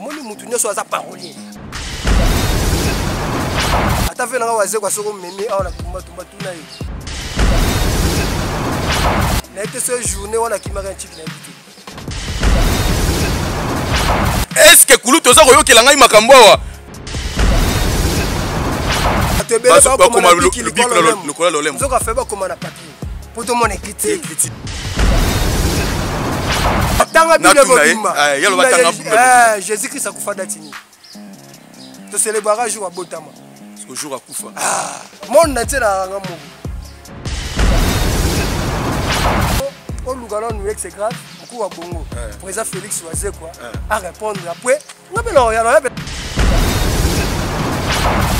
omoni mutu nyonso aza parolier ata ve nanga wazekwa soki omemi awa na tumbatumba tuna ye naye te so journée wana akimaka ya ntiki na yebi te eske kulutu oza koyokela ngai makambo awa bato ebele bakoma lokola lolembo nzoka fe bakoma na papie mpo tomona ekriti tanga bible mobimba eh, eh, jésus christ akufa dati nini tocelebraka jour abotama jour akufa ah, monde na ntielaka nga moko oluka nanu exe grave mokuu wa bongo eh. président félix wazekwa arépondre apres nga mpe naoyana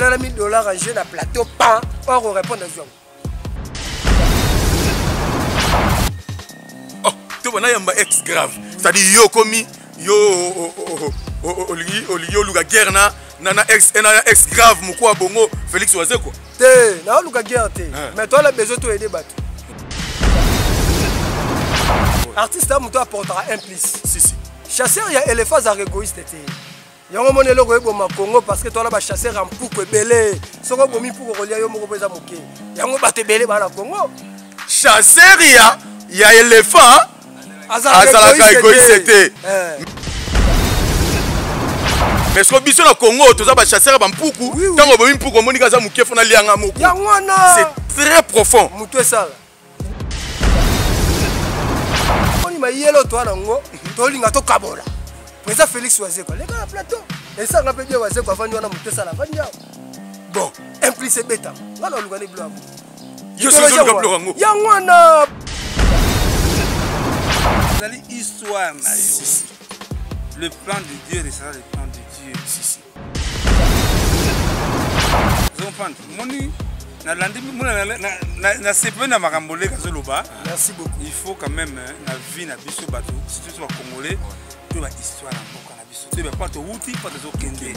na 1000 dollars en jeu na plateau pan or orépondre azwi yango oh, toba nayamba ex grave cetadi yo okomi yo olingi olingi oluka guerre na na ex eh, na ex grave moko ya bongo félix wazekwa te naoluka guerre te eh. mais toala besoin toyede bato artiste ya moto aportaka un plus si, si. chasseur ya éléphant azaka égoïste te yango moni eloko eboma congo parce que toza na bachasseur ya mpuku ebele soki obomi mpuku okolia yo moko mpo eza moke yango bato ebele baa na congo chasseur ya ya elephant azalaka egoise te eh. mais soki biso na congo toza bachasseur ya bampuku ntango obomi mpuku omoniki aza moke fona lianga moko c'est très profond moto esala moni mayele otoa na yango tolinga tokabola eza félix wazeko aleka na plateau esanga mpe bia wazeko avandi wana moto esala avandi awa bon implice ebetama nga na olukani bilo yango yango wana ezali histoire na yo le plan de dieu resala le plan de dieu si, si. comprendre moni nalandi nasepeli na makambo leka azoloba merci beaucoup il faut quand même hein, na vie na biso bato surtout so bacongolais to bahistoire ya mboka na biso to bapo towuti po tozokende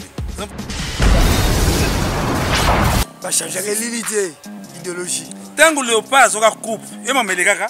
bachangeaka elili te idéologie ntango leopard azoka coupe ye mamelekaka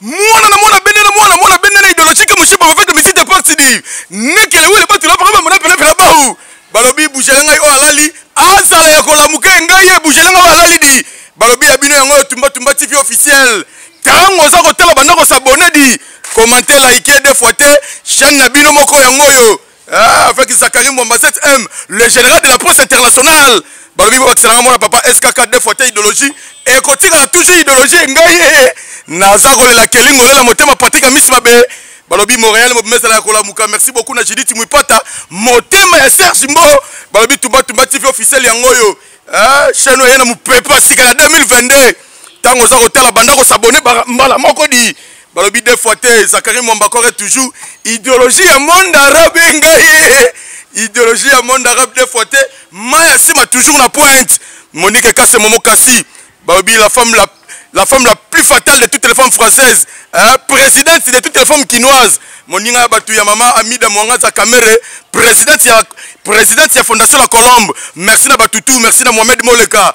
mwana na mwana bende na mwana mwana bende na idologie ke moshipa bafete misite parti di nekele wele batula paka bamona pene pene bahu balobi bujele ngai oyo alali azala ya kolamuke ngai ye bujele ngai oyo alali di balobi ya bino yango oyo tumbatumba tv officiel ntango oza kotala banda kosabone di komante like de fois te chaine na bino moko yango oyo Ah, avec Zachary Mwamba 7M, le général de la presse internationale. balobi babakisa nanga mwana papa skk de fois te idéologie ekotikala toujours idéologie ngai ye naza kolela kelingo lela motema patrik ya misi mabe balobi montréal mobima ezala ya kolamuka merci beaucoup na judith mwipata motema ya serge mbo balobi tumbatumba tv officiel yango oyo chaine oyo ye na mopepe asika na 2022 ntango oza kotala banda kosabone mbala moko di balobi deux fois te zakari mwambakore toujours ideologie ya monde arabe engai ideologie ya monde arabe deux fois te mai ya nsima toujours na pointe monique kase momo kasi balobi la femme la, la femme la plus fatale de toutes les femmes françaises hein, présidente de toutes les femmes kinoises moninga ya bato ya mama amida mwangaza kamere présidente ya, présidente ya fondation la colombe merci na batutu merci na mohamed moleka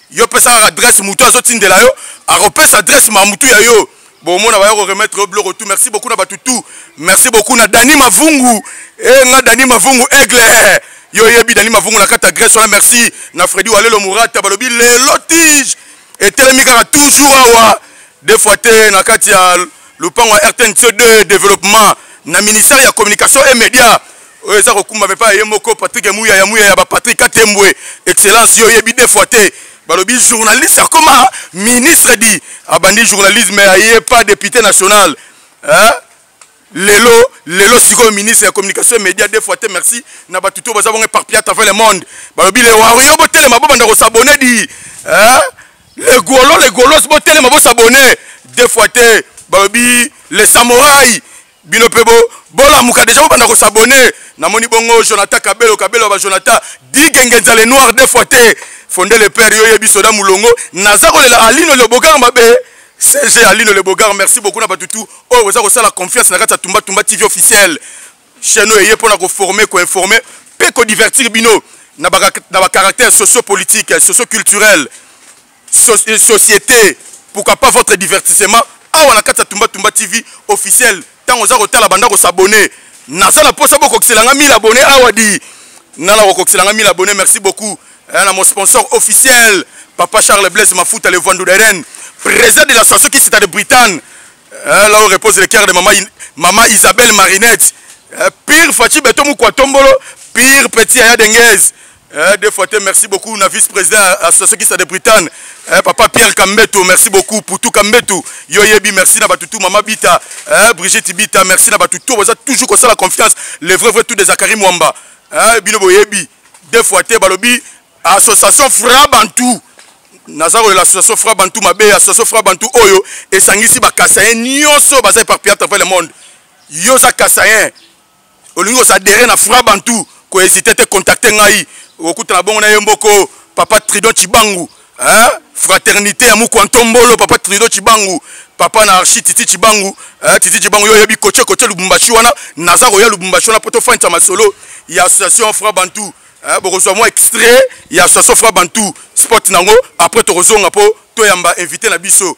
yo pesa kaka adresse mutu azotindela yo akopesa adresse ma mutu ya yo bomona baya ko remettre yo biloko tout merci beaucoup na bato tout merci beaucoup na dani mavungu e eh, nga dani mavungu aigle eh, yo oyebi dani mavungu na kati adresse wana merci na fredi walelo murata balobi lelo tige etelemi kaka toujours awa de fois te na kati ya lopango ya rtnc 2 développement na ministère ya communication et média oyo eza kokumba mepa ya ye moko patrik muyaya muyaya bapatrik katembwe excellence yo oyebi de fois te balobi journaliste akoma ministre di abandi journalisme aye pa député national eh? lelo lelo sikoyo ministre ya communication média de fois te merci na bato to baza bongo éparpillé à travers le monde balobi le wario botelema bobanda kosabone di eh? le golo le golos botelema bosabone de fois te balobi le samorai bino mpe bo bolamuka deja bobanda kosabone namoni bongo jonathan kabelo kabelo ya bajonathan digenge nzale noir de fois te fonde le père yo yebi soda molongo naza kolela alino loboganga mabe cg alino lebogar merci beaucoup na bato tout oyo boza kosala confiance na kati ya tumba tumba tv officiel chaine oyo eye mpona koforme koinforme mpe kodivertir bino na bacaractère sociopolitique socioculturel Euh, société pourquoi pas votre divertissement awa na kati ya tumba tumba tv officiel ntango oza kotala banda kosabone naza na mposa bokokisela nga 1000 abonné awa di nga na kokokisela nga 1000 abonné merci beaucoup eh, na mon sponsor officiel papa charles blaise mafuta le vandu deren président de la station qui cita de britagne eh, là où repose le cœur de mama, mama isabelle marinette eh, pire faci beto mukua tombolo pire petit aya denguez Eh, deux fois te merci beaucoup na vice président association kisa de britagne eh, papa pierre kambeto merci beaucoup putu kambetu yo yebi merci na batutu mama bita eh, brigitte bita merci na batutu boza toujours kosala confiance le vrai vrai tout de zakari mwamba eh, bino boyebi deux fois te balobi association fra bantou naza kolela association fra bantou mabe association fra bantou oyo esangisi bakasayen nyonso baza éparpillé à travers le monde yo oza kasayen olingi kosadere na fra bantu kohésite te contacte ngai okutana bongo na ye mboko papa tridon cibangu hein? fraternité ya mukwa ntombolo papa tridon cibangu papa na archi titi cibangu hein? titi cibangu yo oyebi koce koce lubumbashi wana naza koya lubumbashi wana mpo tofandisa masolo ya association fra bantu hein? bokozwa mwa extrait ya association fra bantu sport nango après tokozonga mpo toyamba invité na biso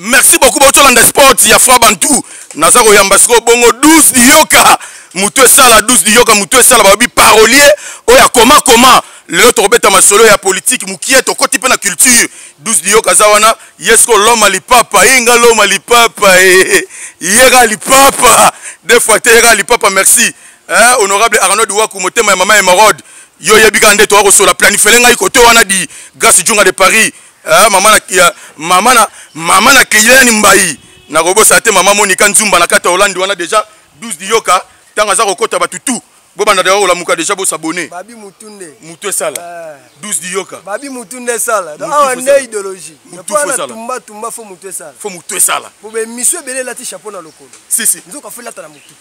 merci beaucoup botolanda sport ya fra bantu naza koyamba sikoyo bongo 12 liyoka motu esala 12 liyoka motu esala balobi parolier oyo akoma koma lelo tokobeta masolo ya politike mokie tokoti mpe na culture 12 liyoka aza wana ye sikoyo loma lipapa ye nga loma lipapa eh, eh, eh. yeka lipapa de fois te yeka lipapa merci eh, honorable arnaud duwaku motema ya mama emerode yo oyebi kaka nde toya kosola planifele ngai kote wana di grace junga de paris eh, mama na ya, mama na mama na keyani mbai nakobosana te mama monika nzumba na kati ya holande wana deja 12 diyoka ntango aza kokota bato tout bobanda deja kolamuka deja bosabone babi mutu nde mutu esala 12 eh. diyoka babi mutu nde esala awa nde idéologie tumba tumba fo mutu esala fo mutu esala po bemisio ebele elati chapeau na lokolo sisi nzoka fo elata na mutu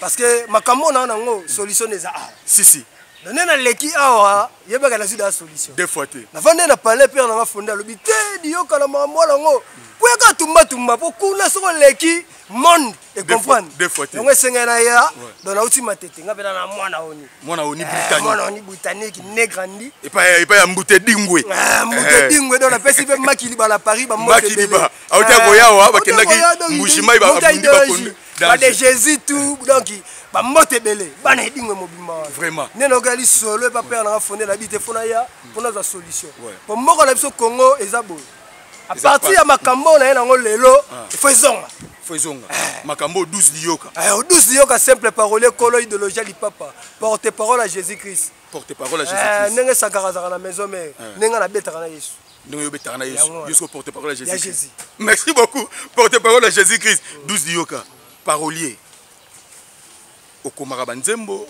parce que makambo oyo naa nango solution eza awa si si na nde naleki awa yebaka nazwi daa solution de fois te navande na palais pere nanga fonde alobi te diyokana makambo wana yango kuyaka tumbatumba mpo kuna soko oleki monde ecomprendre yango esengai na ya don nauti matete nga mpena na mwana oni mwana oni eh, mwana oni britannique ne grandi epai ya mbute dingwe eh, mbute eh. dingwe don napesi mpe makiliba na paris bambote auti akoyawa bakendaki mbushimai babundi bakondi ba de jésus tout donc bambote ebele bana edingwe mobimba wana vraiment nde nayoka lisolo epa pere nanga fonde na bi te mpo naya mpo nazwa solution mpo mboka na biso congo eza boye a partir ya makambo oyo naye nango lelo ah. ifo ezonga fo ezonga eh. makambo oyo 12 liyoka 12 eh, liyoka simple parole kolo idéologie ya lipapa porte parole ya jésus christ porte parole ya jésus eh, christ ndenge sankara azalaka na maison mare ndenge nabetaka na yesu ndenge yo obetaka na yesu yo soki porte parole ya jésus christ merci beaucoup porte parole ya jésus christ 12 liyoka parolier okomaka banzembo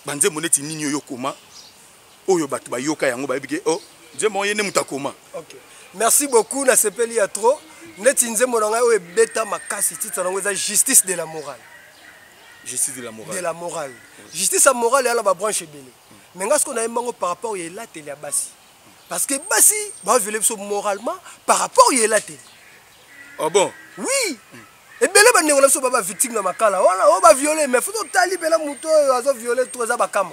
banzembo neti nini oyo okoma oyo bato bayoka yango bayebi ke o oh, nzembo ye nde moto akoma merci beaucoup nasepeli ya trop neti nzembo na ngai oyo ebeta makasi titre yango eza justice de la morale justice de la morale de la morale justice ya morale eya na babranche ebele me ngai soki nayembi yango par rapport ya elateli ya basi parce que basi ba viole biso moralement par rapport yela te oh bon oui mm. ebele bandeko na biso ba bavictime na makala wana oyo oh, baviole mais futi otali mpena moto oyo azo viole to eza bakama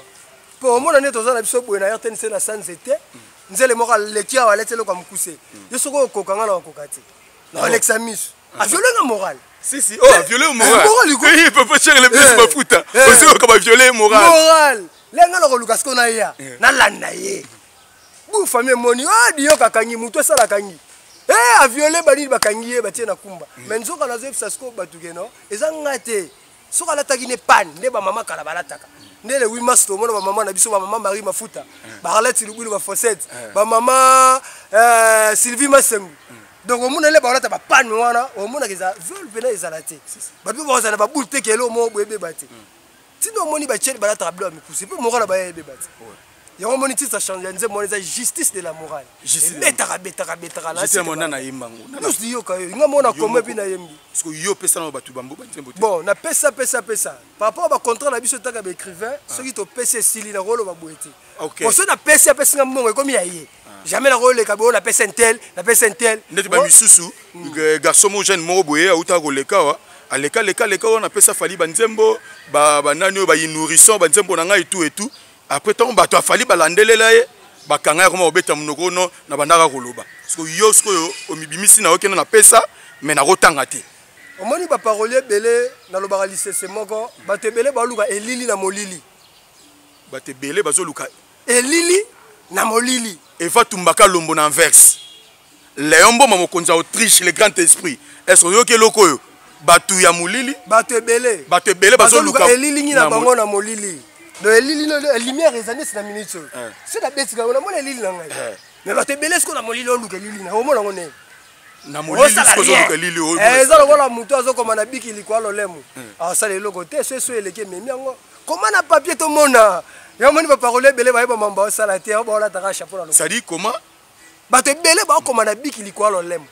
mpo omona nde toza na biso boye na rtnc na sans ete nzele moko aleki awa aleti eloko ya mokuse yo soki okoka ngai na okoka te na olekisa miso a viole nga moral si si oh a viole eh, moral moral iko eh papa cher le plus mafuta osi ko ba viole moral moral lenga na ko luka siko na ya na landa ye bu famille moni oh dio kakangi mutu asala kangi eh a viole ba nini bakangi ye batie na kumba mais nzoka nazo yebisa siko batu ke non eza nga te soki alataki ne pane nde bamama kala balataka nde le 8 mars tomona bamama na biso bamama marie mafuta eh. bakalati lubulu bafosete eh. bamama eh, sylvie masengu donc omona le bakolata bapane wana omonaka eza viol mpena ezala te bato mpe bakozala na babule te kelo mo boyebeba te ntina omoni batiele balataka bilo ya mikuse mpe moko na baye ayebeba te yango omoni titre ya change ya nzembo wana eza justice de la morale ebetaka betaka betaka nasemona nayemba yango nyonso liyoka yo nga mona koma epi nayembi parceke yo opesa na bato bambo banzembo te bon napesa pesa pesa par rapport bacontrat na biso taka baécrivain ah. soki topesi esili nakoloba boye te po soki napesi apesi nga mbongo ekomi ya ye ah. jamais nakoleka boyo napesa intel napesa intel ndeti bamisusu hmm. eh, garçon mo jeune moko boye autaka koleka wa aleka leka leka wana apesa fali banzembo banani oyo bayinourissant banzembo na ngai etu etu après ntango bato ya fali balandelela ye bakanga ya koma kobeta monoko ono na bandaka koloba siko yo sikoyo omibimisi na yo kende napesa me nakotanga te omoni baparoli ebele nalobaka lisese moko bato ebele baoluka elili na molili bato ebele bazoluka elili na molili eva tumbaka lombo na anverse Leon Mboma mokonzi ya Autriche le grand esprit. Est-ce que oyoki eloko oyo? Batu ya molili, batu ebele, batu ebele bazo luka elilingi na bango na molili. Donc elili no lumière ezali na minute. Eh. C'est la bête na mona elili na ngai. Eh. Mais batu ebele siko na molili oluka elili na omona ngo ne. Na molili siko oluka elili oyo. Eh, eza lokola mutu azokoma na biki likwa lolemo. Eh. Asala eloko te, so so eleki ememi yango. Koma na papier tomona. Yamoni ba parole ebele bayeba mambo asala te, baolataka chapeau na lokuta. C'est-à-dire comment bato ebele baokoma na biki likolo lolemo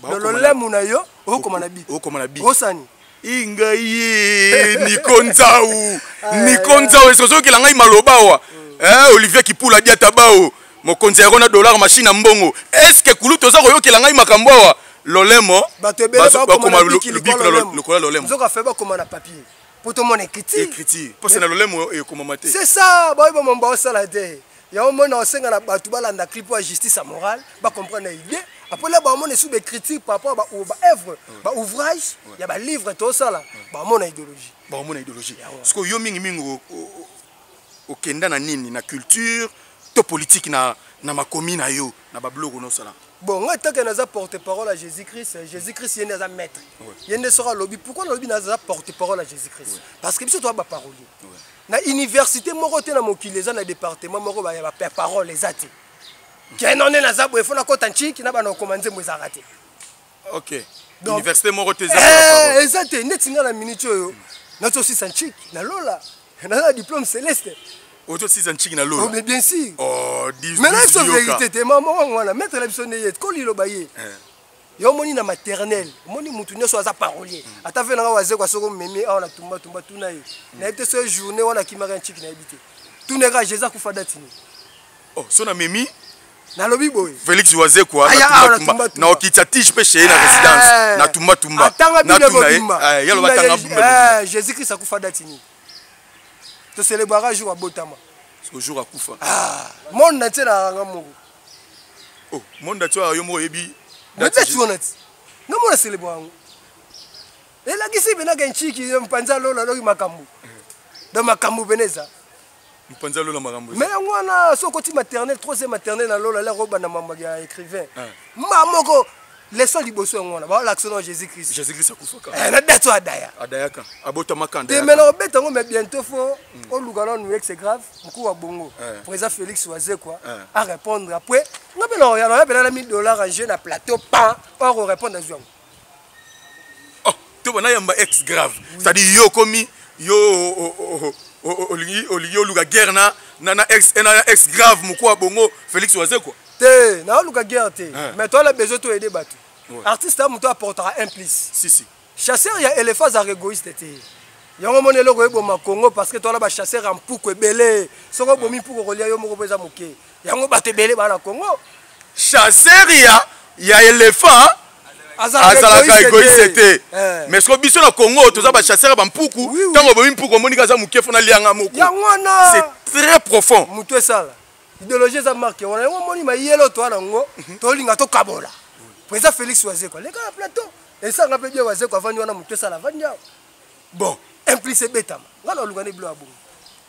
na lolemo na yo okoma na biki okoma na biki osani ingai ye niko nzau ah, niko eh. nzau esozokela ngai maloba awa mm. eh, olivier kipula diata bao mokonzi yango na dollar machine ya mbongo eske kulu toza koyokela ngai makambo awa lolemo bato ebele bakoma biki lokola lolemo nzoka fe bakoma na papier mpo tomona ekriti ekriti mposa na lolemo ekomama te c'est ça baoyo bamomba osala te yango moi naosenga na bato balanda clip ya justice ya morale bacomprendre na idée apres na bamona esu baécriture par rapport baœuvre baouvrage ya balivre tosala bamona idéologie bamona idéologie sikoyo yo mingimingi okenda na nini na culture to politike na, na makomi na yo na babiloko nosala bon ngai ntanke naza porte parole ya jésus christ jésus christ ye nde aza maître ye nde soki alobi pourkui nalobi naza porte parole ya jésus christ parce que biso toza baparolier na université moko te na mokili eza na département moko ba ba parole eza te keno ne naza boye fo nakota ntiki na bana okoma nzembo ezalaka te ok Donc, université moko te eza eh, eza te neti nga na minute oyo nazosisa ntiki na lola naza na diplôme céleste otosisa ntiki na lola oh, mais bien sûr oh, mais nayebi so vérité te mama wango wana maître na biso nde ye koliloba ye eh. yo omoni na maternel omoni mutu nyonso aza parolier ata ve nanga wazekwa soko omemi awa na tumba tumba tuna ye nayebi te soki journée wana akimaka nciki nayebi te tuna ye kaka jesus akufa dati nini oh, so na memi nalobi boye felix wazekwa naokitisa tige mpe cheye na eh. résidence na tumbatumba atanga bile mobimba eh, yaloba atanga eh, jésus christ akufa dati nini toselebraka jour abotama jour akufa ah, monde na ntie na yanga moko oh monde dati yo moko oyebi dati wana ti nga mona selebo yango elakisi pena ke nchiki mpanza lola loki makambo donc makambo pena eza mpanza lola makambo mais yango wana soki okoti maternel troisième maternel na lola lako obanda mambo ya écrivain ah. ma moko leso liboso yango wana balakisa na jésus christ jésus christ akufaka eh, na date oyo adaya adayaka abotamaka te mena obeta yango mais bientôt fo mm. oluka nanu ye c'est grave mokuu wa bongo eh. président félix wazekwa eh. arépondre après nga mpe naoya naoya mpena na 1000 dollars en jeu na plateau pa oya korépondre azwi yango to bana yamba ex grave c'est à dire yo komi yo olingi olingi oluka guerre na na na ex na ex grave mukwa bongo Felix waze quoi te na oluka guerre te eh. mais toi la besoin to aider batu artiste a mutu apportera un plus si si chasseur ya éléphant za égoïste te yango omoni eloko eboma congo parce que toala bachasseur ya mpuku ebele soki obomi mpuku okolia yo moko mpo eza moke yango bato ebele baa na congo chasseur ya ya elephant azalaka egoise te eh. mais soki biso na congo toza bachasseur ya bampuku ntango obomi mpuku omoniki aza moke fona lianga moko c'est très profond moto esala idéologie eza marke wana yango omoni mayelo toa na yango mhm. tolinga tokabola po eza félix wazekwa leka na plateau esanga mpe bie wazekwa avandi wana moto esala avandi awa bon implice ebetama ngai na olunga ne bilo ya bongo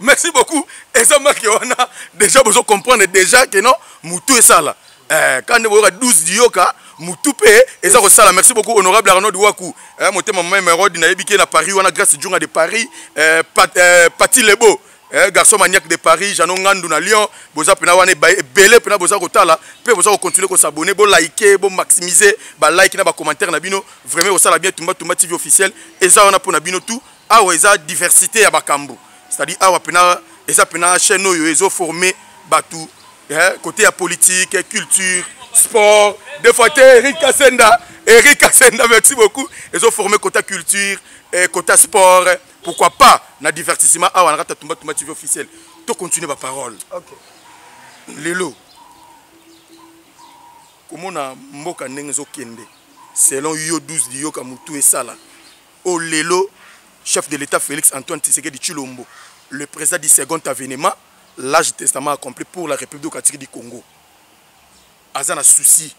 merci beaucoup eza make wana déjà bozo comprendre déjà que non mutu esala eh, kande boyoka 12 diyoka mutu mpe eza kosala merci beaucoup honorable arnaud waku eh, motema mama emerode nayebi ke na paris wana grace junga de paris eh, pat, eh, pati lebo eh, garçon maniaque de paris jano ngandu na lyon boza mpena wana ebele mpena boza kotala mpe boza kocontinue kosabone bolike bomaximise balike na bacommentaire na bino vraiment kosala bien tumbatumba tv officiel eza wana mpo na bino tout awa eza diversité ya makambo c'est-à-dire awa mpena eza mpena chaîne oyo ezoforme bato eh, côté ya politique culture sport des fois te eric kasenda eric kasenda merci beaucoup ezoforme côté ya culture eh, côté ya sport pourquoi pas na divertissement awa na kati ya tumbatumba tv officiel to continue baparole okay. lelo komona mboka ndenge ezokende selon yo 12 liyoka motu esala Au lelo, chef de l'État Félix Antoine Tshisekedi Tshilombo, le président du second avènement, l'âge du testament accompli pour la République démocratique du Congo, aza na souci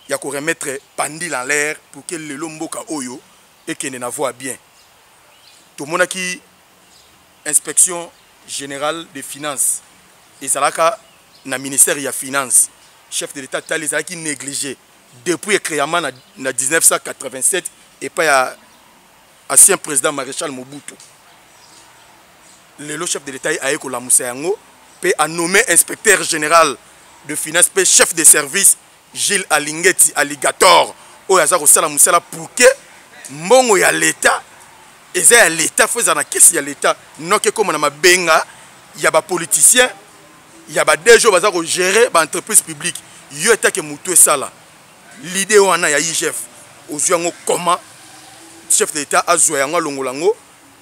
ya ko remettre pandil en l'air pour que lelo mboka oyo ekende na voie bien. Tomonaki inspection générale des finances ezalaka na ministère ya finance chef de l'État tali ezalaki négligé depuis ecreama na, na 1987 epai ya ancien président maréchal mobutu lelo chef de l'état ye aye kolamusa yango mpe anomme inspecteur général de finance mpe chef de service gilles alingeti alligator oyo aza kosala mosala pour que mbongo ya leta eza ya leta fo eza na kesi ya leta noki ekóma na mabenga ya bapoliticien ya ba DG baza ko gérer ba entreprises publiques yo etake mutu esala l'idée wana ya IGF ozwi yango comment chef de l'État azwa yango alongola yango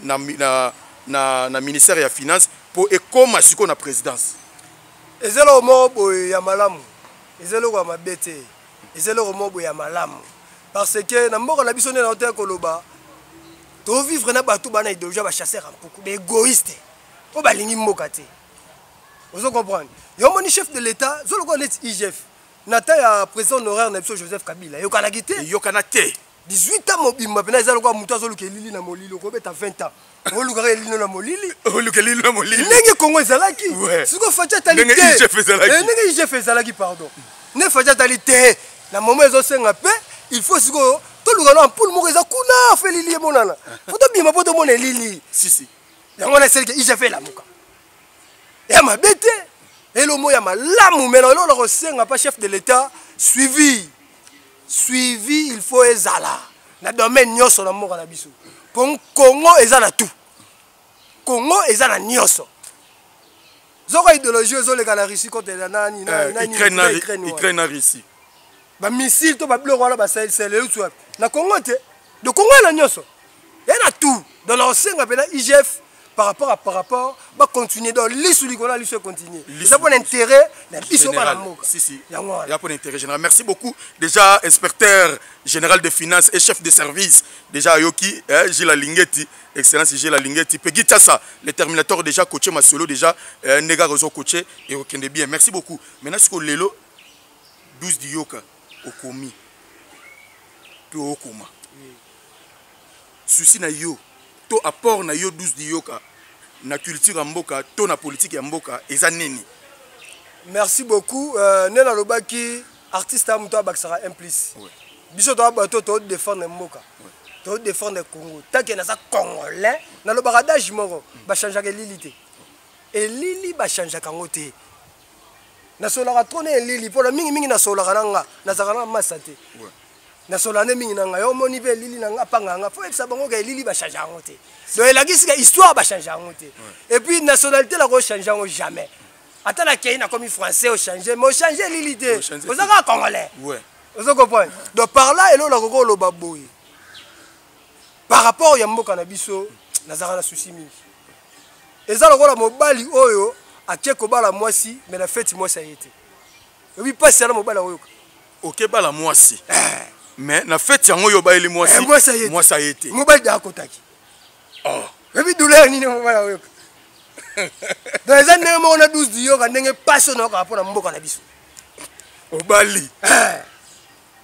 na, na, na, na ministère ya finance mpo ekoma sikoyo na présidence eza eloko moko boye ya malamu eza eloko ya mabe te eza eloko moko boye ya malamu parce que na mboka na biso nde nao te koloba tovivre na bato bana idéologie ya bachasseur ya mpuku baegoïste oyo balingi mboka te ozo comprendre yo moni chef de l'état zo lokola neti igf na temps ya président honoraire na biso joseph kabila eyokanaki te eyokana te 18 ans mobimba mpena eza lokola moto azoluka elili na molili okobeta 20 ans olukaka elino na molili oluka elino na molili ndenge kongo ezalaki sikoy faci atali te eh, ndenge igf ezalaki pardon nde faci atali te na momo ezosenga mpe il faut sikoyo toluka na ampule moko eza kuna fo elili emonana fo tobima mpo tomona elili yango wana esalike igf elamuka ya mabe te elomo ya malamu me lelo na kosenga mpa chef de l'etat suivi suivi il faut ezala na domaine nyonso na mboka na biso mpo congo eza na tout congo eza na nyonso zoko idéologie ezoleka na russie kote na nani na eh, ukraine na russie bamisile to babiloko wana basalisela euti wapi na congo te de congo ena nyonso ya na tout donc nakosenga mpena igf par rapport à par rapport bacontinue donc lisu likolo ya lisu econtinue eza mpona intérêt na biso bana mboka yango wana mpona intérêt général merci beaucoup déjà inspecteur général de finance et chef de service déjà ayoki eh, gila lingeti excellence gila lingeti pegi tasa le terminator déjà coache masolo déjà eh, ndenge akozo coache ekokende bien merci beaucoup maintenant sikoyo lelo 12 du yoka okomi mpe okoma susi na yo to apport na yo 12 du yoka na culture ya mboka to na politike ya mboka eza nini merci beaucoup uh, nde nalobaki artiste ya moto abakisaka implice ouais. biso toa bato todefendre mboka ouais. todefendre congo take naza congolais nalobaka dage moko bachangeaka elili te elili bachangeaka yango te nasolaka trop na elili mpona mingimingi nasolaka na nga nazalaka na masa te nasolaka nde mingi na ngai omoni mpe elili na nga apanga yanga mpo yebisa bango ka elili bachange yango te do elakisi ka histoire bachange yango te epuis nationalité nako change yango jamais ata nakei nakomi français ochange mais ochange elili te oza kaka congolais ozo comprendre donc par là eloko nakoki oloba boye par rapport ya mboka na biso nazalaka na susi mingi eza lokola mobali oyo ake kobala mwasi me na feti mwasi aye te oyebi mpasi yana mobali akoyoka okebala mwasi eh. me na feti yango oyo obayeli mwasi eh, mwasi aye te mobali da akotaki oh. oyebi douleur nini mobali akoyoka donc eza ndenge moko na 12 diyoka ndenge mpasi oyo nayokaa mpo na mboka na biso obali eh.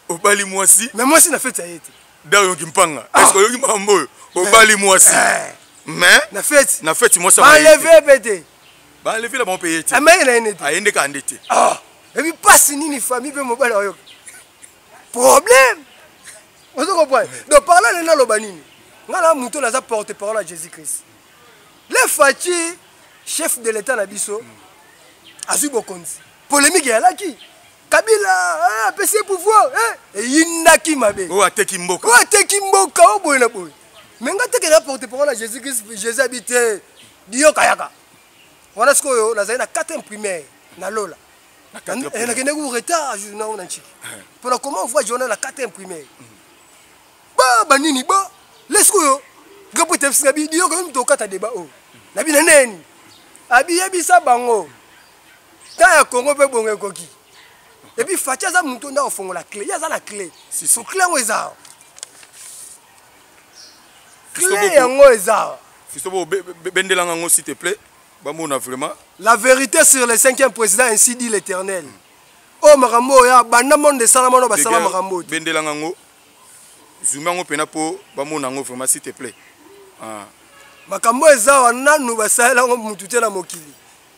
obali mwasi mais mwasi na feti ya ye te dao yoki mpanga ah. eske oyoki makambo oyo obali mwasi eh. mais na feti na feti mwasi baleve mpe te baleve la bango mpe ye te ameye ah, na ye nde te aye nde kande te ah. ebi mpasi nini famille mpe mobali oyoka problème ozo comprendre donc parla nde naloba nini ngai na moto naza porte parole ya jésus christ le faci chef de l'état na biso mm. azwi bokonzi polémique eyalaki kabila eh, apesi ye pouvoir eh, eyindaki mabe oyo ateki mboka oyo ateki mboka oyo boye na boye me nga tekela porte parole ya jésus christ jésus abi te diyokayaka wana sikoyo nazali na 4 primaire na lola eh, nakendeki ku retard journal na nciki mpona comment voi journal na 4 primaire ba banini ba le sikoyo nga mpo etebisi na bi diyoka yo mito okata deba oyo na bina neni abi yebisa bango ta ya congo mpe bongo ekoki epuis faci aza moto nde akofongola cle ye aza na cle so cle yango eza awa cle yango eza awa fiso bendelanga yango s'il te plaît bamona vraiment la vérité sur le cinquième président ainsi dit l'éternel oyo oh, makambo oyo ya banda monde esalama no basala makambo oyo bendelanga yango zumi yango mpena mpo bamona yango vraiment s'il te plaît ah. makambo eza awa nanu basalela yango motu te na mokili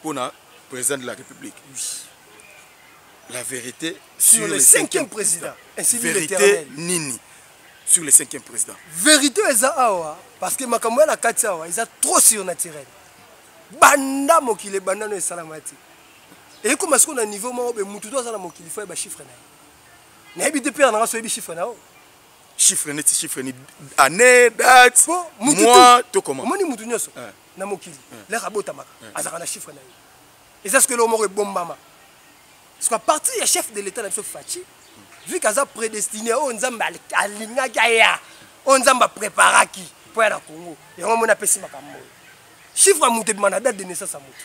mpo na président de la république la vérité sur, sur le cinquième président ainsi vérité nini sur le cinquième président vérité eza awa parce que makambo ya na kati awa eza trop surnaturel banda mokili ebanda no esalama te ekoma sikoyo na niveau moko be motu to aza na mokili fo yeba chiffre na ye nayebi te pere nanga soyebi chiffre na yo chiffre neti chiffre ni année date mois to comment omoni motu nyonso eh. na mokili lere abotamaka azalaka na chiffre na ye eza soki eloko moko ebombama soki apartir ya chef de l'état na biso faci vu que aza prédestiné oyo nzambe alingaki aya oyo nzambe apreparaki mpo ya na congo yango moni apesi makambo oyo chiffre ya moto ebima na date de naissance ya moto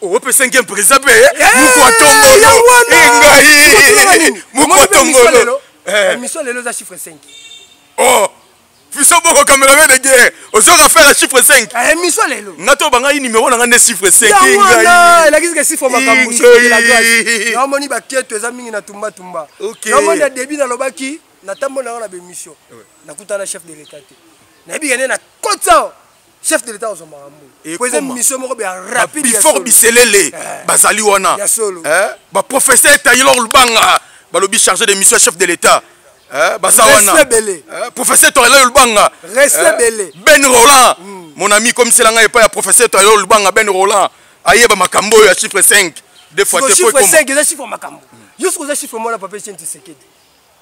opesa nge mpreza mpe mokotongolo engai mokotongolo emission lelo eza chiffre 5 oh biso boko cameraman de guerre ozoka faire la chiffre 5 ah, emission lelo nga to banga numéro na nga nde chiffre 5 ngai elakisi ke chiffre makambo namoni baketo eza mingi na tumba tumba namoni na début nalobaki natambola yango na bemission nakutana chef de l'état te nayebika nde na kota chef de l'etat ozwa makambo po eza mission moko bya rapide before biselele eh. bazali wana ya solo eh? baprofesseur taylor lubanga balobi chargé de mission ya chef de l'etat eh? baza wana professeur taylor lubanga ben roland hmm. mon ami komisela ngai epai ya professeur taylor lubanga ben roland ayeba makambo oyo ya chiffre 5 de fois te po chiffre 5 eza chiffre makambo yo soki oza chiffre mwana papa etienne tisekedi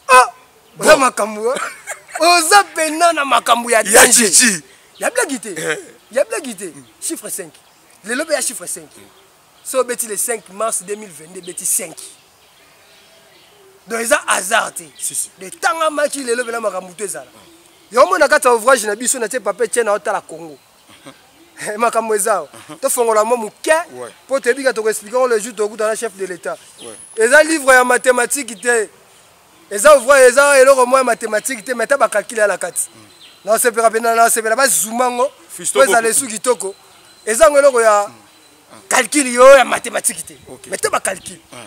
ah oza makambo oza pena na makambo ya danger ya blagi te eh. ya blagi te chiffre 5 lelo mpe ya chiffre 5 so obeti le 5 mars 2022 ebeti 5 donc eza hasard te de tanga maki lelo mpena makambo to ezala yango mona kati ya ouvrage na biso natie pape tie na otala congo Eh, makambo eza awa mhm. tofongola mwa moke mpo toyebi ka tokoexplike yango le jour tokuta na chef de l'état eza livre ya mathématique te eza ouvra eza eloko mwa ya mathématique te mai ata bakalkile ya na kati mm. nasepelaka mpenza nasepela bazuma yango mpo ezala esu kitoko eza yango eloko ya kalkile mm. ah. yo ya mathématique te mai te bakalkile ah.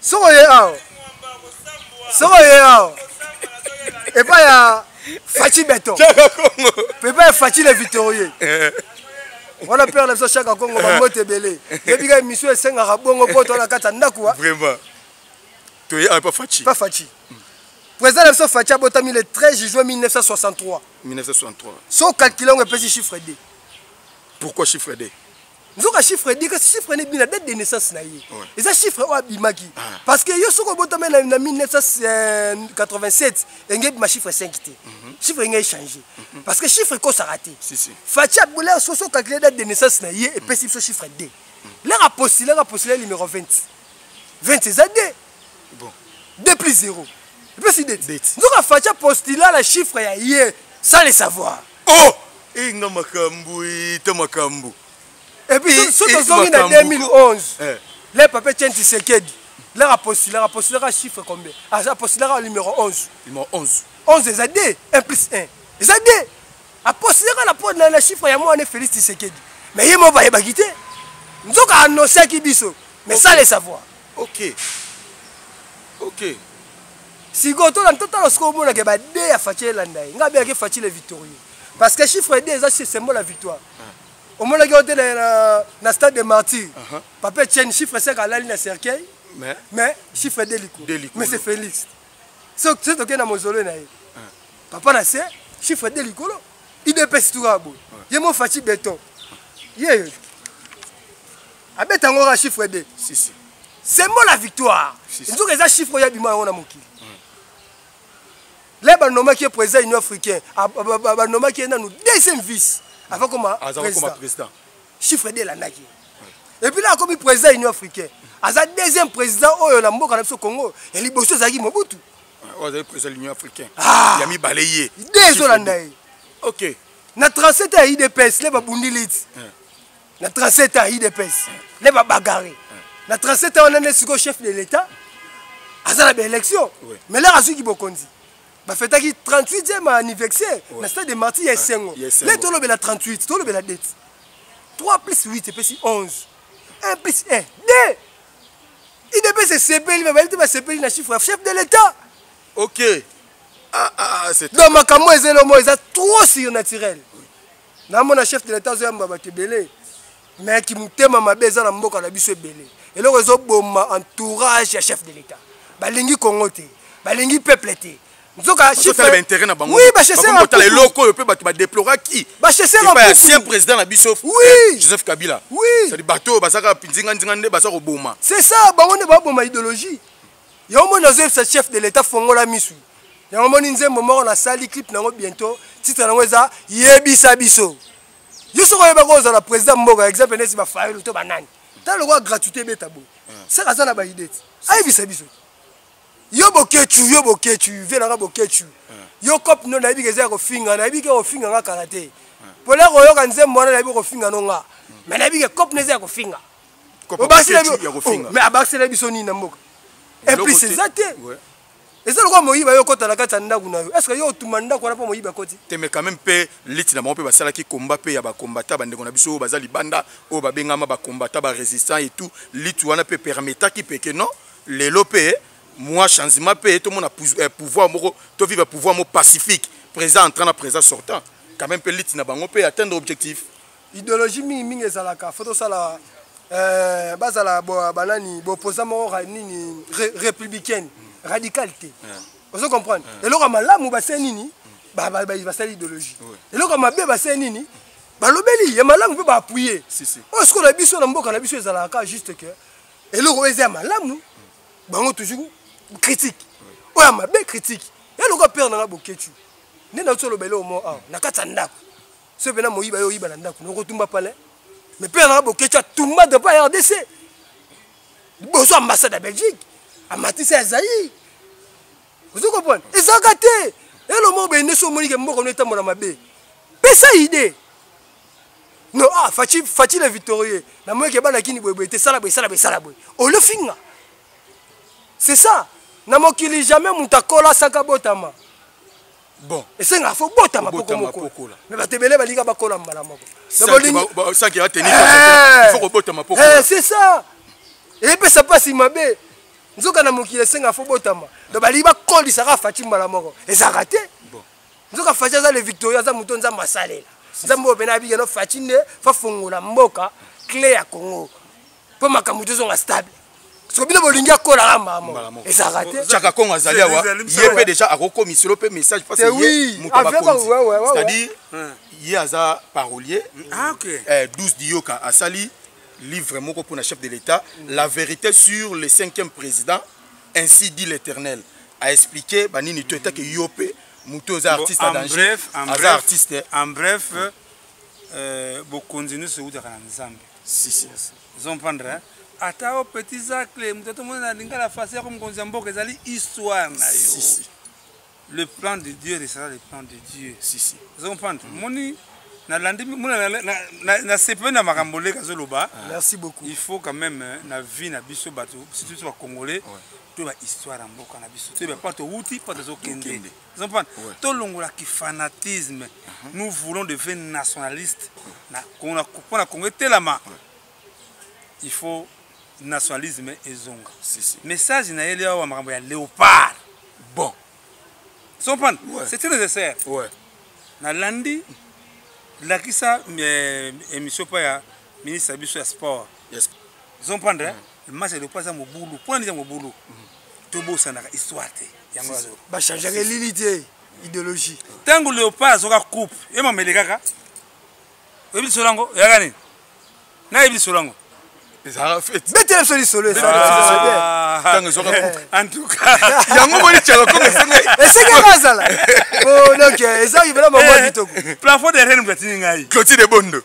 soki oye awa soki oye awa epai ya faci beton epai ya faci le victorie eh. wana pere na biso shaka kongo eh. bambote ebele yebika emission esengaka bongo mpo toana kati ya ndako wa toye awa epa faci pa faci président na biso faci abotami le 13 juin 1963 1963 so calcule yango epesi chiffre 2 pourquoi chiffre 2 nzoka chiffre edi kasi chiffre nebi na date de naissance na ye eza chiffre oyo abimaki ah. parce que yo soki obotami na 1987 enge ebima chiffre 5 te mhm. chiffre enge echange mhm. parce que chiffre ekosaka te faci abula sosi ocalcule date de naissance na ye epesi biso chiffre 2 lere apostulaka apostule numero 20 20 eza 2 bon 2 plus 0 epesi deti nzoka facha postula na chiffre ya ye sans le savoir oh inga eh, makambo ete eh, makambo epuis so tozongi na 2011 eh. le pape tien tisekedi laka postulaka postulaka chiffre combien aza ah, postulaka numéro 11 numéro 11 11 eza 2 1 plus 1 eza 2 apostulaka na po na chiffre ya mwana félix tisekedi mais ye moko bayebaki te nzoka annonciaki biso mais sans le savoir ok ok sikoyo totala sikoyo omonake bade ya faci elanda ye ngai abeyaki faci le victorieux parce que chiffre d eza symbole ya victoire ah. omonaki yo te na stade de martyr uh-huh. papa etienne chiffre 5 alali na cercueil mais chiffre d likolo mais c'est félix soki tokei na mozolo na ye ah. papa na se chiffre d likolo idps tukaka boye ye mo faci beton yeyo abeta yango kaka chiffre de si, si. sembo la victoire si, si. nzoka eza chiffre oyo abima yango na mokili mm. le banomaki ye président union africain banomaki ye nanu deuxième vice avant koma président chiffre de elandaki mm. epuis la akomi président union africain aza deuxième président oyo na mboka na biso congo ya liboso ezalaki mobutu oyo oh, azali président l'union africain ah. ya mibale ye de ezolanda ye ok na 37 ya idps le babundi liti na 37 ans idps nde babagare na 37 ans wana nde sikoyo chef de l'état aza na baélection mais lere azwiki bokonzi bafetaki 38e anniversaire na stade de marti ya esengo nde tolobela 38 tolobela date 3 plus 8 epesi 11 1 plus 1 2 idps esepeli babayebi te basepeli na chiffre ya chef de l'état ok ah, ah, ah, donc makambo ezeli omo eza trop surnaturel namona chef de l'etat azoyamba bato ebele mais kimotema mabe eza na mboka na biso ebele eloko ezoboma entourage ya chef de l'etat balingi kongo te balingi peuple te nzoka chiffre intérêt na bango oui ba chasser en tala eloko oyo pe bato ba déplora qui ba chasser en ba ancien président na biso oui eh, Joseph Kabila oui c'est bato bazaka nzinga nzinga nde baza ko boma c'est ça bango ne ba boma idéologie yango moni nazoyebisa chef de l'etat fongola misu yango moni nzembo moko nasali clip na yango bientôt titre na yango eza yebisa biso yo soki oyeba ko ozala président mboka exemple neti bafayolo to banani tala lokola gratuité ebeta boye hmm. saka aza na baide ti ayebisa biso yo bokecu yo bokecu vie nanga bokecu hmm. yo cope no nayebi keza ya kofinga nayebi ke kofinga nga kala te hmm. pole koyoka nzembo wana nayebi kofinga no nga me nayebi ke cope no eza ya kofinga obakisela oh, biso nini na mboka eplus eza te eza lokola moyiba yo okota na kati ya ndako na yo estce yo otuma ndako wana mpo moyiba akoti te mais quand même mpe liti na bango mpe basalaki komba mpe ya bakombata bandeko na biso oyo baza libanda oyo babengama bakombata barésistant et tout liti wana mpe permetaki peke non lelo mpe mwa changement mpe tomona eh, pouvoir moko toviva pouvoir moko pacifique présent entrant na présent sortant quand même mpe liti na bango mpe atteindre objectif ideologie mingi mingi ezalaka fo tosala euh, bazala banani boposa moko nini républicaine radical te ozo comprendre eloko ya malamu basee nini basali ideologie eloko ya mabe basee nini balobeli ya malamu mpe baappuye oyo sikoyo na biso na mboka na biso ezalaka kaka juste que eloko oyo eza ya malamu bango toujours critique oyo ya mabe critique ya lokola pere nanga boketu nde nauti oloba eloko moko awa na kati ya ndako soki mpena moyiba yo oyiba na ndako na okotumba palais mais mpe yanaka bokechi atumba drapo ya rdc liboso ambassade ya belgique amatisi ya zaire ozo comprendre ezalaka te elo moko bende so omonike mboko no etambola mabe pesa idee no ah faci faci le victorieux namonaki ebandaki ni boyeboye te sala boye sala boye sala boye olofinga c'est ça na mokili jamais moto akola saka botama bon esengaka fo bota mapoko moko me bato ebele balinga bakola mbala moko c'est ça epesa mpasi mabe nzoka na mokili esenga fo botama donc balingi bakolisaka fati mbala moko ezalaka te nzoka fati aza le victoria aza moto nzambe asalela nzambe oyo mpena abikeno fati nde fafongola mboka cle ya congo mpo makambo tozonga stable soki bino bolingi akolaka mbala ezalaka te chaka kongo azali awa ye mpe deja akokomiselo mpe message parce ye moto abakonzi c'est-à-dire ye aza parolier 12 ah, eh, diyoka asali livre moko mpona chef de l'état la vérité sur le cinquième président ainsi dit l'éternel aexplike banini to etake yo mpe moto oza artiste en danger aza artiste en bref euh, bokonzi nyonso eutaka na nzambe si si ozo comprendre hein? ata o petit zacle moto atomoni na lingala fasi yako mokonzi ya mboka ezali histoire na yo si, si. le plan de dieu restera le plan de dieu si, si. ozo comprendre mm. moni nalandi nasepeli na makambo leka azoloba ah. merci beaucoup il faut quand même euh, na vie na biso bato surtout bacongolais to bahistoire ya mboka na biso to bapa towuti mpo tozokende ozomprendre tolongola kifanatisme mhm. nous voulons de vrai nationaliste mpo na kongo etelama il faut nationalisme ezonga message na yeli awa makambo ya léopard bon ozomprendre c'est très nécessaire nalandi lakisa eh, émission mpo ya ministre ya biso ya sport ozomprendre masa elopa aza mobulu mpo na nini aza mobulu tobosanaka histoire te yango bachangeaka elili te idéologie ntango leopa azoka coupe ye mamele kaka oyebi lisolo yango eyaka nini nayebi lisolo yango betela biso lisolo yango moni tiakakomesengeesengeli azala donc eza ivela mabwa kitoko plafond de rene moto atini ngai clotide bondo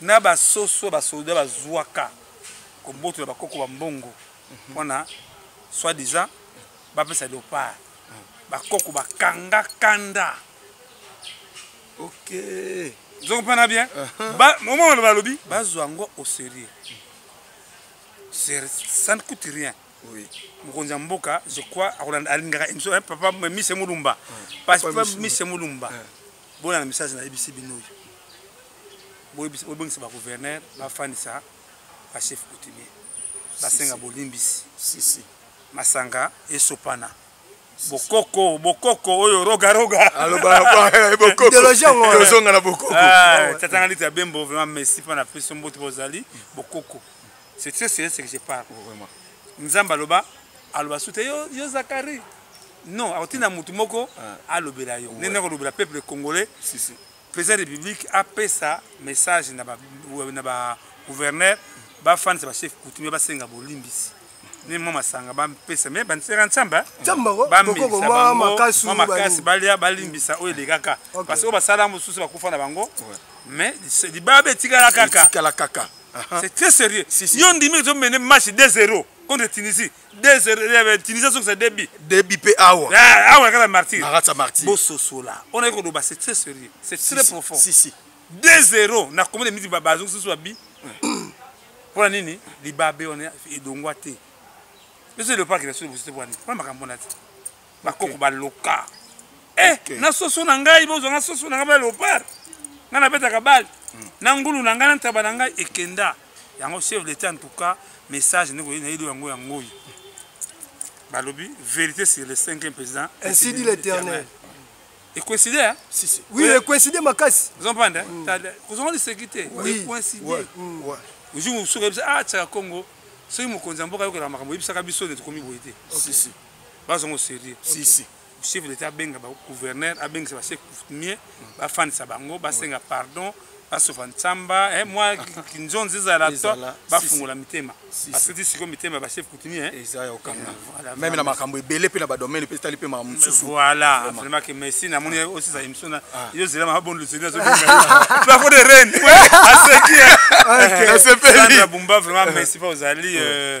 na basoso basoda bazwaka kobotola bakoko ba mbongo mpona soit disant bapesa leopard bakoko bakanga kanda ok ozo comprendre bien uh-huh. omona balobi bazwa yango au sérieux ça ne coûte rien mokonzi ya mboka je crois alingaka émission papa mise mulumba papa mise mulumba bona na message nayebisi bino oyo bobengisa bagouverneur bafandisa bachef coutumier basenga bolimbisi masanga esopana bokoko bokoko oyo rogaroga alobaaolozonga na bokokotatanga liti ya bembo vraiment merci mpo na peso mbote bozali bokoko c'est très sérieux ce que je parle nzambe aloba aloba sute yo, yo zakari non akotinda motu moko ah. alobela yo nene akolobela peuple congolais président république apesa message na bagouverneur bafanisa bachef coutumier basenga bolimbisi ne mwa masanga bapesa me bansera nsamba makasi balia balimbisa oyo elekaka parce oyo basala mosusu bakufa na bango mais libaba etikala kaka c'est très sérieux yo ndimi ezomene match 2 0 contre tunisie des euh, tunisia azongisa debi debi mpe awa ah, awa kaka martyr nakatisa martyr bososola on ayaki koloba c'est très sérieux c'est très profond si si 2 0 na combien de minutes bazongisa so babi mpo na nini libabe wana edongwa te ezo elopaki na solo bosote bwani mpo na makambo na te bakoko okay. baloka eh, okay. na soso na ngai bozwa nga soso na ngai ba leopard ngai nabetaka bale mm. na ngulu na ngai na ntaba na ngai ekenda yango chef d'état en tout cas message ndeko ye nayebi yango yango oyo balobi vérité sur le cinquième président ainsi dit l'éternel ecoïncide hein? si, si. oui ecoïncide makasi ozompanda mm. kozonga liseki te ecoïncide mm. jour mosusu oyebisa ah tiaka congo soki mokonzi ya mboka ayokelaka makambo oyebisaka biso nde tokomi boye te bazongo sérieux si si chef d'état abenga ba gouverneur abengisa ba chef coutumier bafandisa bango basenga pardon basofa nsamba eh, mwa kinzonzi ezala to Ezala, si, bafungola mitema Si, si. parce que ti sikoyo mitema ya ba chef coutumier eh. eza ya okanga Voilà, meme na vraiment. makambo ebele mpe na badomene mpe etali mpe makambo mosusu voilà Vraiment. vraiment que merci namoni osisa émission na yo zela ma bonne luzeli azo benga la de reine aseki Nasepeli. Sandra Bumba vraiment merci pa ozali euh,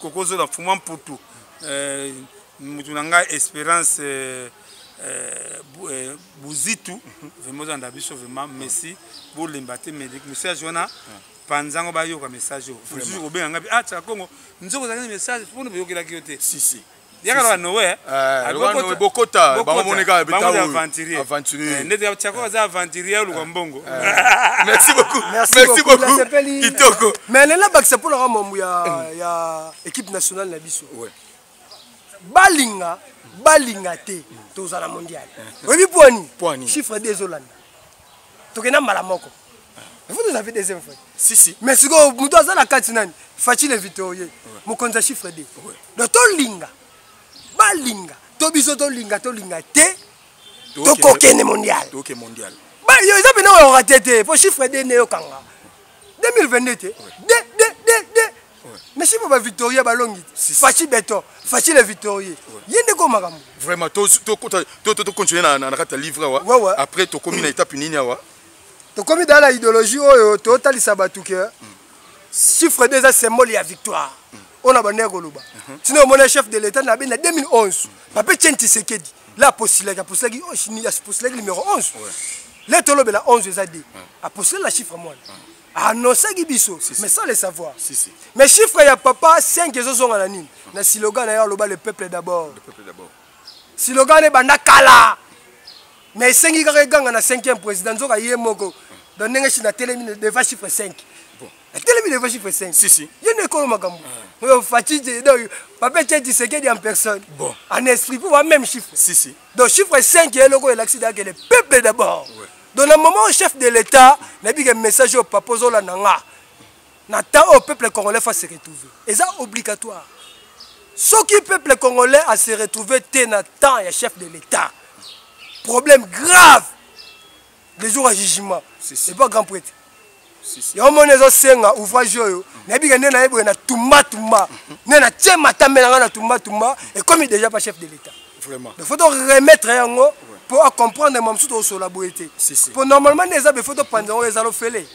kokozo na fuma mputu eh, mutu na ngai esperance eh, eh, eh, buzitu vraimen ozalanda biso vraimen messi bolemba te medik message wana panza yango bayoka message oyo osusu kobenga ngai ah tsaka kongo nzoko ozalaki na message mpona boyokelaki yo te si, si. yaka loka nowe eh, bokota bango moneka aventurier eh, ndeti tiako aza aventurier oluka eh. mbongo merci beaucoup merci beaucoup kitoko mais lela bakisa mpo naka mambo ya équipe nationale na biso balinga balinga te tozala mondial oyebi pwani chiffre de ezolanda tokenda mbala moko vous nous avez deuxième fois si si mais sikoyo moto aza na kati nani faci le victorieux mokonzi ya chiffre d donc tolinga balinga to biso tolinga tolinga te tokokende mondial bayo eza mpena oyorate te mpo chiffre d neyokanga 2022 te de de de de mais siko ba victoria balongi faci beton faci le victorie ye nde ko makambo vraiment tocontinue na kati ya livre awa après tokomi na étape nini awa tokomi dala idéologie oyo totalisa bato ke chiffre 2 eza symbole ya victoire mm. oyo na bandaki koloba mhm. tina omona chef de l'état na beni na 2011 pape chen tisekedi la apostilaki apostilaki apostilaki numéro 11 le tolobela 11 eza de apostile na chiffre mwana anonsaki biso mais sans le savoir mais chiffre ya papa 5 ezozonga na nini na siloga na yo aloba le peuple d'abord siloga na ebanda kala mais esengi kaka eganga na 5e président nzoka ye moko donc ndenge chine atelemi devant chiffre 5 atelemi devant chiffre 5 si si ye nde ekolo makambo ah. oyo faci donc papa etie disekedi en personne bon en esprit mpo ba même chiffre si si donc chiffre 5 ye eloko elakisi dake le peuple d'abord ouais. donc na moment oyo chef de l'état nayebi ke message oyo papa ozolanda nga na temps oyo peuple congolais fa se retrouver eza obligatoire soki peuple congolais a se retrouver te na temps ya chef de l'état problème grave le jour ya jugement epa grand prêtre yango moni ezosenga ouvrage oyo nayebi ke nde naye boye na tumbatumba nde natie matambe na ngai na tumbatumba ekomi déjà pa chef de l'état il faut remettre yango mpo acomprendre ma mosusu tokosola boye te mpo normalement nde eza befo topanza yango ezala ofele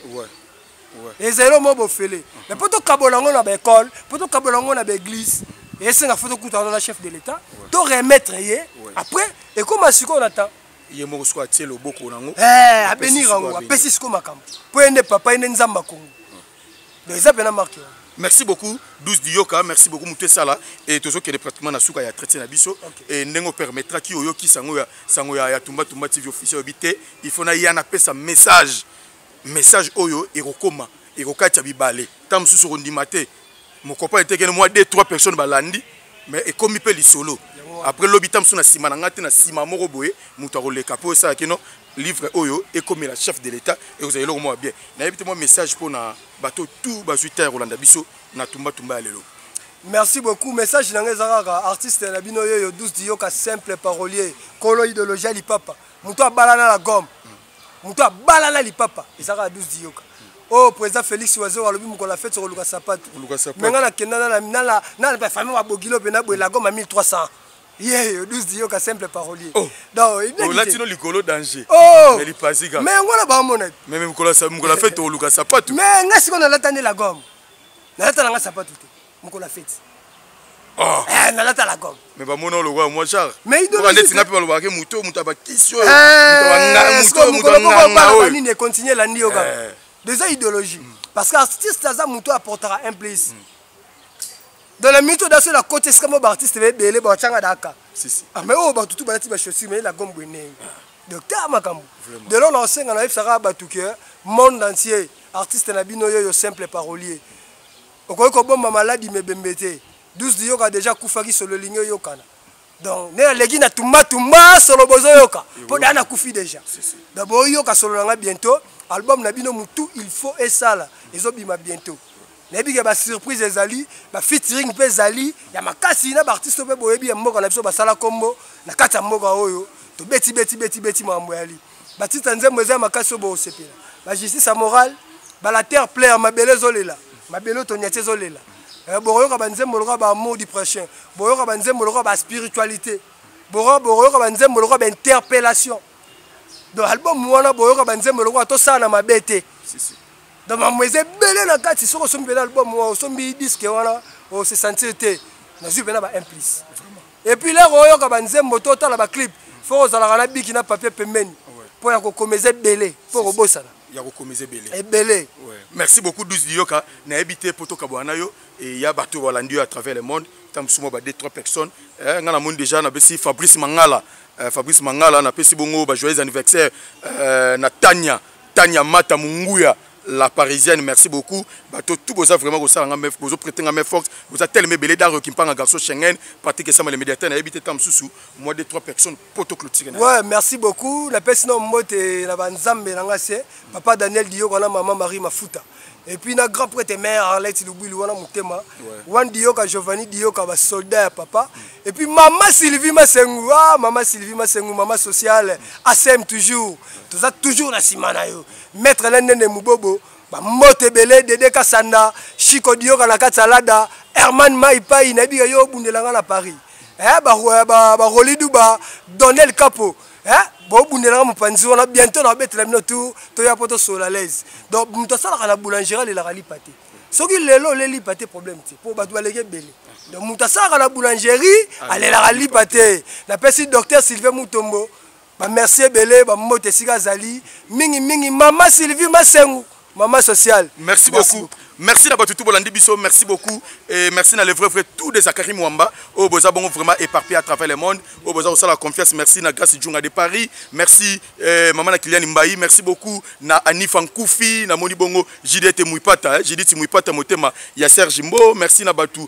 ezali omo bofele mais mpo tokabola yango na baekole mpo tokabola yango na baeglise esenga fo tokutana na chef de l'état to remettre ye après ekóma sikoyo na temps ye moko sikoyo atie loboko nango eh, abenir yango apesi sikoyo makambo mpo ye nde papa ye nde nzambe akongo donc eza mpena marke yango merci beaucoup 12 diyoka merci beaucoup moto esala e tozokende pratiquement na suka ya traité na biso e ndenge opermettraki oyokisa yango sango ya tumbatumba tv officiel oyebi te il faut na ya napesa message message oyo ekokoma ekokati ya bibale ta mosusu okondima te mokopa etekene mwa 2 3 personnes balandi mais ekomi mpe lisolo après lobi ta mosusu na nsima na ngai te na nsima moko boye moto akoleka mpo esala kino livre oyo ekomela chef de l'état ekozala eloko mwa bien nayebi te mwa message mpo na bato tout bazwi ta ya kolanda biso na tumbatumba ya lelo merci beaucoup message na ngai eza kaka artiste na bino yeyo 12 diyoka simple parolier kolo idéologie ya lipapa moto abalana na gome moto abala na lipapa ezalaka ya 12 diyoka oyo oh, président félix wazo alobi mokolo ya fete okoluka sapatu me ngai nakenda na bafamille babogilo mpe na boye lagoma 1300 yeyo 12 diyoka simple parolier oh. donlatino oh, likolo danger lipasika me yango na bamona me mokolo ya fete okoluka sapatu me ngai sikoyo nalata nde lagoma nalata na ngai sapatu te mokolo ya feti ah. eh, nalata la gomme mais bamona olokola mwa genre neti nga mpe balobaka ke moto oyo moto ya bakisi oyo nini econtinue elandi yo kaka eh. deza idéologie mm. parce que artiste aza moto oyo aportaka un plus mm. dans la minute odaso na koti esika mo baartiste baebele bawacanga daka ah, mais oyo oh, bato tu balati bachaussure mais la gomme bwenei docteur makambo de lona osenga na yebisaka bato ke monde entier artiste na bino yo yo simple parolier okoki kobomba maladi mebembe te 12 liyoka deja akufaki solo elingi oyokana donc nde naleki na tumbatumba solo bozoyoka mpo daa nakufi deja donc boyoka solo na ngai bientôt album na bino motu il faut esala ezobima bientôt nayebi ke basurprise ezali bafeaturing mpe ezali ya makasi na baartiste mpe boyebi ya mboka na biso basala nkombo na kati ya mboka oyo tobeti beti beti beti makambo yali batita nzembo eza ya makasi oyo bokosepela bajustice ya morale balater player mabele ezolela mabele oyo tonyati ezolela eh, bokoyoka banzembo lokola baamour du prochain boyoka banzembo lokola baspiritualité bokoyoka banzembo lokola bainterpellation donc album wana boyoka banzembo lokola tosala na mabe te donc mambo eza ebele na kati soki osombi mpena album wana osombi diske wana osesentir te nazwi mpena baimplice et puis lero oyoka ba nzembo to tala ba clip faut ozalaka na biki na papier pembeni mpo ya kokomeza ebele mpo kobosana ya kokomeza ebele ebele merci beaucoup 12 liyoka nayebi te mpo tokabwana na yo eya bato balandi yo à travers le monde ntango mosusu mwa ba 2 3 personnes eh, ngai namoni déjà napesi fabrice mangala eh, fabrice mangala napesi bongo ba joyeux anniversaire eh, na tania tania mata monguya la parisienne merci beaucoup bato tout boza vraiment kosala nga bozo prete nga main forte boza teleme ebele daro kimpanga garçon schengen pratique esama le médiateur nayebi te ntango mosusu moi de trois personnes mpo toclotire ouais merci beaucoup napesi na mbote na banzambe na nga se papa daniel diyoko wana mama marie mafuta et puis na grand prêtre mère arlette lubwilu wana motema wan diyoka giovanni diyoka basoldat ya papa et puis mama sylvie masengu ah mama sylvie masengu mama sociale asem toujours toza toujours na nsima na yo Maître Alain Nene Mubobo, ba mbote belé Dede Kasanda, Chico Dioka na kati Alada, Herman Maipai na biga yo bundela nga na Paris. Eh ba ba, ba Rolidu ba Donnel Capo. Eh bo bundela nga mupanzi wana bientôt na bete la bino tout to ya poto sur la l'aise. Donc muto sala kana boulangerie la rali pate. Soki lelo le li pate problème ti po ba doit lege belé. Donc muto sala kana boulangerie, ah, alelaka lipa te. Na pesi docteur Sylvain Mutombo. bamerci ebele bambote esika azali mingimingi mama sylvie masengu mama sociale merci beaucoup merci na bato tu bolandi biso merci beaucoup et merci na le vrai vrai tout des akari mwamba oyo oh, boza bongo vraiment éparpillé à travers le monde oyo oh, boza kosala confiance merci na grace djunga de paris merci eh, mama na kiliani mbayi merci beaucoup na anifa nkufi namoni bongo jidete muipata eh, jidite muipata motema ya serge mbo merci na bato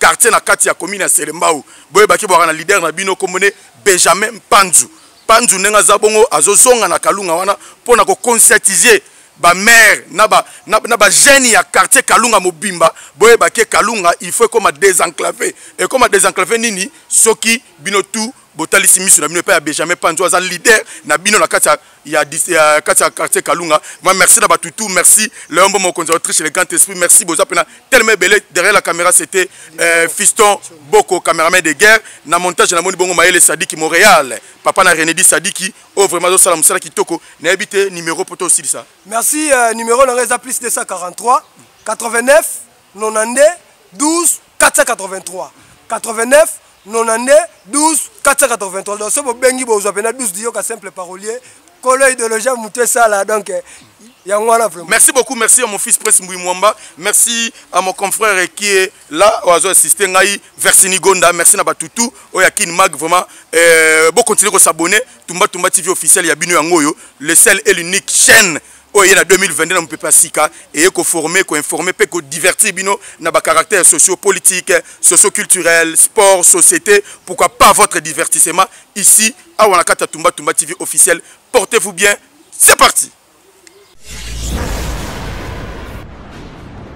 quartier na kati ya commune ya Selembao boyebaki bwaka na leader na bino kombo ne Benjamin Panzu Panzu ndenge aza bongo azozonga na Kalunga wana mpo na ko conscientiser ba maire na ba na, na ba jeunes ya quartier Kalunga mobimba boyeba ke Kalunga il faut ekoma désenclavé ekoma désenclavé nini soki bino tout botalisi miso na bino epai ya benjamin panzo aza leader na bino na kati ya kati ya quartier kalunga ma merci na bato tout merci leombo mokonzi ya autriche le grand esprit merci boza mpena telema ebele derrière la caméra c'était euh, fiston boko cameraman de guerre na montage na moni bongo mayele sadiki montréal papa na renedi sadiki oyo oh, vraiment azosala mosala kitoko nayebi te numéro mpo tosilisa merci euh, numéro na ngai eza plus 243 89 92 12 483 89 92 12 483 donc soki bobengi bozwa mpena 12 diyoka simple parolier kolo idéologie ya motu esala donc eh, yango wana vraiment merci beaucoup merci à mon fils prince mbui mwamba merci à mon confrère qui est là oyo azo assiste ngai versini gonda merci na batutu oyo ya kin mag vraiment euh, bokontinue kosabonne tumba tumba tv officiel ya bino yango oyo le sel et l'unique chaîne oyo eye na 2022 na mopepe ya sika eye koforme koinforme mpe kodivertir bino na bacaractère sociopolitique socioculturel sport société pourquoi pas votre divertissement ici awa na kati ya tumba tumba tv officiel portez vous bien c'est parti